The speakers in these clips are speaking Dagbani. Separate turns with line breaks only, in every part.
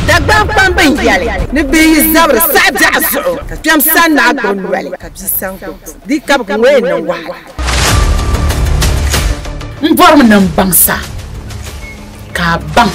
Dagbani kpam bin yɛli ni bɛ yi zabiri saɣi biɛɣu zuɣu ka kpɛm san naa gbubi noli ka bia san gbubi buku di kabigu ŋɔ yɛn niŋ wahala.
N bɔrimi ni n baŋ sa ka a baŋ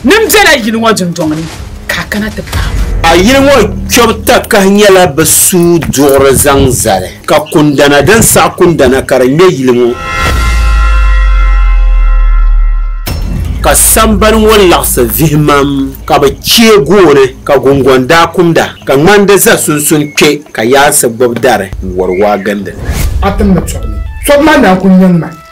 ni m bela yili ŋɔ dundɔŋ ni ka a kana ti paai ma. A yili ŋɔ
kpɛbu takahi nyɛla bɛ suui duɣiri zaŋ zali. Ka kundana din saɣi kundana ka di ŋmɛ yili ŋɔ. Ka sambani ŋɔ laɣisi vihimam, ka bɛ chɛ gooni, ka gungɔŋ daa kumda, ka ŋmandi za sunsun kpe, ka yaansi gbibi dari n-wari waa gindi li. Atim ni tɔbu
ni. Tɔbu maa naan kul nyaŋ ma.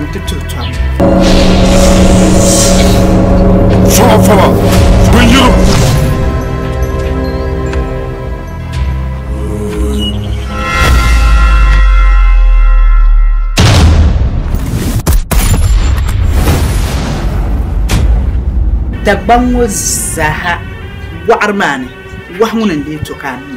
n ti tuhi tɔbu.
Fɔlɔ fɔlɔ, bin yiri.
Dagbaŋ ŋɔ zaaha wɔɣiri maa ni, wahu ŋuni n-lee to ka a mi?